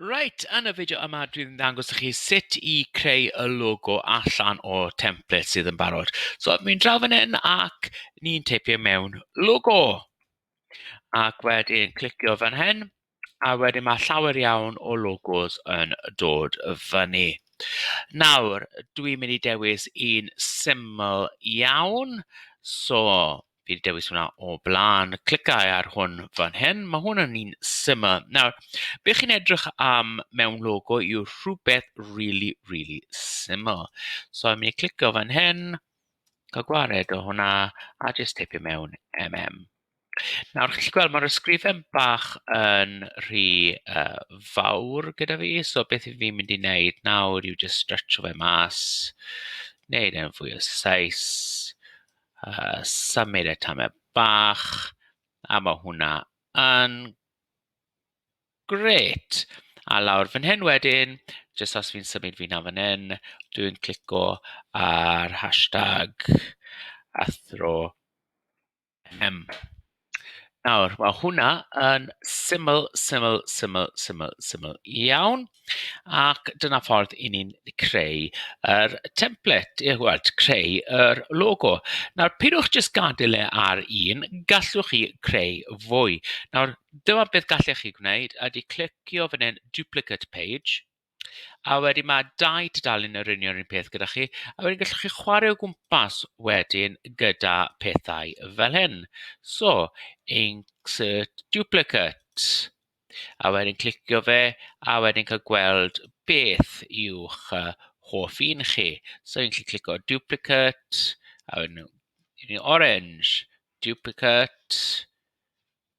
Reit, yn y fideo yma dwi'n mynd i ddangos i chi sut i creu y logo allan o template sydd yn barod. So mi'n draw fan hyn ac ni'n teipio mewn logo. Ac wedyn clicio fan hyn a wedyn mae llawer iawn o logos yn dod fyny. Nawr dwi'n mynd i dewis un syml iawn. So fi wedi dewis hwnna o blaen, clicau ar hwn fan hyn, mae hwn yn un syml. Nawr, be chi'n edrych am mewn logo yw rhywbeth really, really syml. So, I'm going to clicio fan hyn, cael gwared o hwnna, a jyst teipio mewn MM. Nawr, chi'n gweld mae'r ysgrifen bach yn rhy uh, fawr gyda fi, so beth i fi'n mynd i wneud nawr yw just stretcho fe mas, wneud e'n fwy o saes, Yy symud e tamed bach a ma' hwnna yn grêt. A lawr fan hyn wedyn, jyst os fi'n symud fi lan fan hyn, dwi'n clico ar hashtag athro MM. Nawr, mae hwnna yn syml, syml, syml, syml, syml iawn, ac dyna ffordd 'y ni'n creu yr template, yy wel, creu yr logo. Nawr, peidiwch jyst gadael e ar un, gallwch chi creu fwy. Nawr, dyma beth gallech chi gwneud ydy clicio fan hyn, duplicate page. A wedyn ma' dau dudalen yr union yr un peth gyda chi, a wedyn gallwch chi chwarae o gwmpas wedyn gyda pethau fel hyn. So, insert duplicate, a wedyn clicio fe, a wedyn cael gweld beth yw'ch yy hoff un chi. So fi'n gallu clicio duplicate, a wedyn orange, duplicate.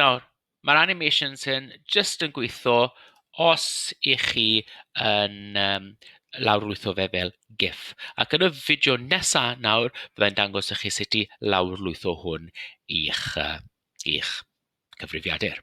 Nawr, ma'r animations hyn jyst yn gweithio os 'y chi yn yym lawrlwytho fe fel GIF. Ac yn y fideo nesa' nawr, byddai'n dangos i chi sut i lawrlwytho hwn i'ch yy i'ch cyfrifiadur.